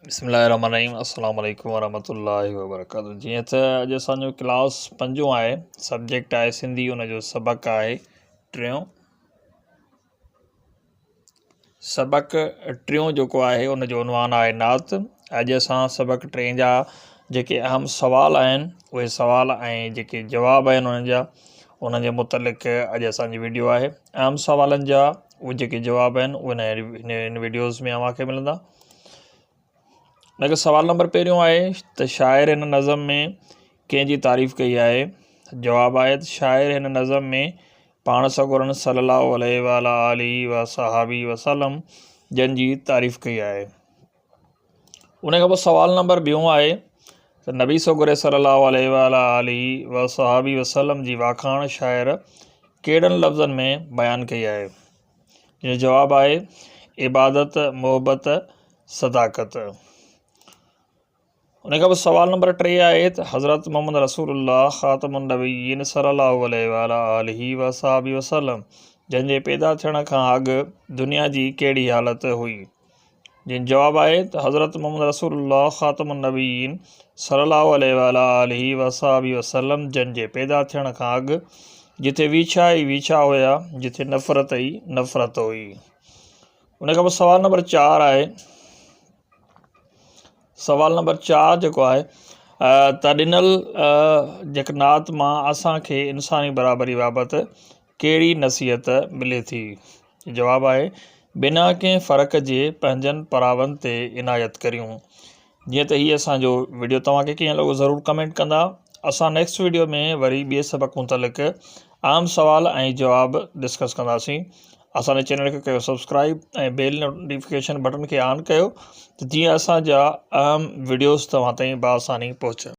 بسم الله الرحمن الرحيم السلام عليڪم ورحمة الله وبرڪاته جي ته اڄ اسان جو ڪلاس پنجون آهي سبجيڪٽ آهي سنڌي ان جو سبق آهي ٽيون سبق ٽيون جيڪو آهي ان جو عنوان آهي نعت اڄ اسان سبق ٽي جا جيڪي اهم سوال آهن اهي سوال ۽ جيڪي جواب آهن انهن جا انهن جي متعلق اڄ اسانجي وڊيو آهي اهم سوالن جا اهي جيڪي جواب آهن اهي هن وڊيوز ۾ اوهان کي ملندا ان کي سوال نمبر پهريون آهي ته شاعر ھن نظم ۾ ڪنهن جي تعريف ڪئي آهي جواب آهي ته شاعر ھن نظم ۾ پاڻ سڳورن صلّي الله عليه وعلٰي آله وصحبه وسلّم جن جي تعريف ڪئي آهي ان کان پوء سوال نمبر ٻيون آهي ته نبي سڳوري صلّي الله عليه وعلٰي آله وصحبه وسلّم جي واکاڻ شاعر ڪهڙن لفظن ۾ بيان ڪئي آهي جنهن جو جواب آهي عبادت، محبت، صداقت. ان کان پوء سوال نمبر ٽي آهي ته حضرت محمد رسول الله خاتم النبيين صلّي الله عليه وعلٰي آله وصحبه وسلّم جن جي پيدا ٿيڻ کان اڳ دنيا جي ڪهڙي حالت هئي؟ جنھن جو جواب آھي ته حضرت محمد رسول الله خاتم النبيين صلي الله عليه وعلي آله وصحبه وسلم جن جي پيدا ٿيڻ کان اڳ جتي ويڇا ئي ويڇا هيا جتي نفرت ئي نفرت هئي ان کان پوء سوال نمبر چار آهي سوال نمبر چار جيڪو آهي ته ڏنل جيڪ نعت مان اسانکي انساني برابري بابت ڪهڙي نصيحت ملي ٿي؟ جواب آهي، بنا ڪنهن فرق جي پنهنجن پراون تي عنايت ڪريون. جيئن ته هي اسان جو وڊيو توهان کي ڪيئن لڳو ضرور ڪمينٽ ڪندا. اسان نيڪسٽ وڊيو ۾ وري ٻئي سبق متعلق عام سوال ۽ جواب ڊسڪس ڪنداسين. اسان جي چينل کي ڪيو سبسڪرائيب ۽ بيل نوٽيفڪيشن بٽن کي آن ڪيو ته جيئن اسان جا اهم وڊيوز توهان تائين بآساني پهچن.